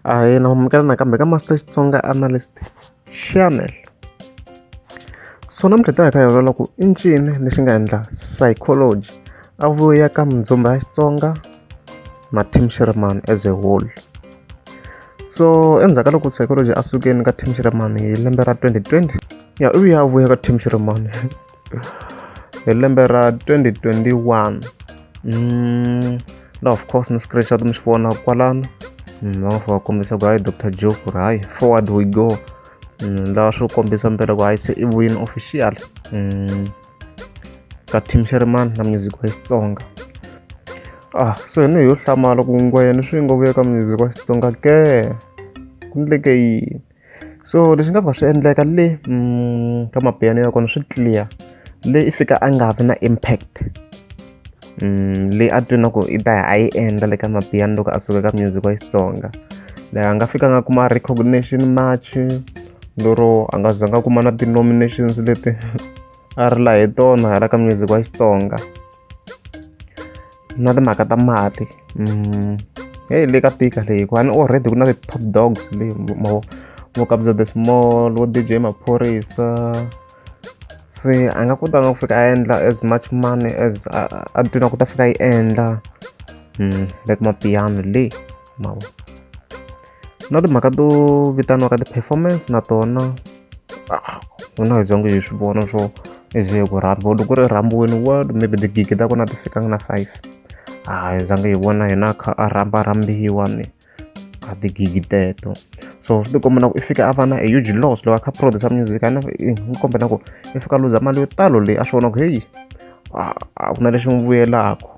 ahee na mamukela nakambe ka master xitsonga analyst channel so namuntlha ta hi kha hi ololola ku i ncini lexi nga endla psychology a vuya ka mindzumba ya xitsonga na tim sherman as a whole so endzhaku ka loko psychology a sukeni ka tim sherman hi lembe ra 2020 ya u ya vuya ka tim sherman hi lembe ra 2021 mm, na of course ni screenshot mi swi vona kwalano mm, va va kombisa ku hayi dr joe ku ri hayi forward we go mm, lawa swi kombisa mpela ku hayi se i vuyini official mm, ka team sherman na music wa xitsonga ah so yini yo hlamala ku ngwayeni swi nga vuya ka music wa xitsonga ke ku ndleke yini so leswi nga ka swi endleka le ka mapiano ya kona swi clear le i fika a nga vi na impact le a twi na ku i ta ya a yi endla le ka mapiano loko a suka ka music wa xitsonga la a nga fika nga kuma recognition match lero a nga za nga kuma na ti-nominations leti a ri la hi tona hala ka music wa xitsonga na timhaka ta mati mm. heyi le ka tika leyi hikuva ni already ku na ti-top dogs leyi mo vo kabza the small vo dj maphorisa se a nga kotanga ku fika a endla as much money as a twina ku ta fika yi endla mm, like mapiano le mavo na timhaka to vitaniwaka ti-performance na tona ah, n'wina hi zongo hi swi vona swo ize ku rhamba loko ku ri rhambiweni world maybe tigigi ta kona ti fikanga na five a ah, hi zange hi vona hina kha a rhamba rhambiwa ni a tigigi teto so swi tikomba na ku i fika a va na a huge loss loko a kha producer music a ni kombe na ku i fika luza mali yo talo leyi a swi vona ku heyi a ah, ku na lexi n'wi vuyelaka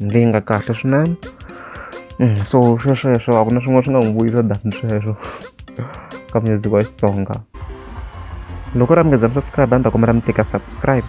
leyi nga kahle swinene mm, so swesweswo a ku na swin'wana swi nga n'wi vuyisa than sweswo ka music wa xitsonga loko ri amukeza mi subscribe a ni ta kombela mi teka subscribe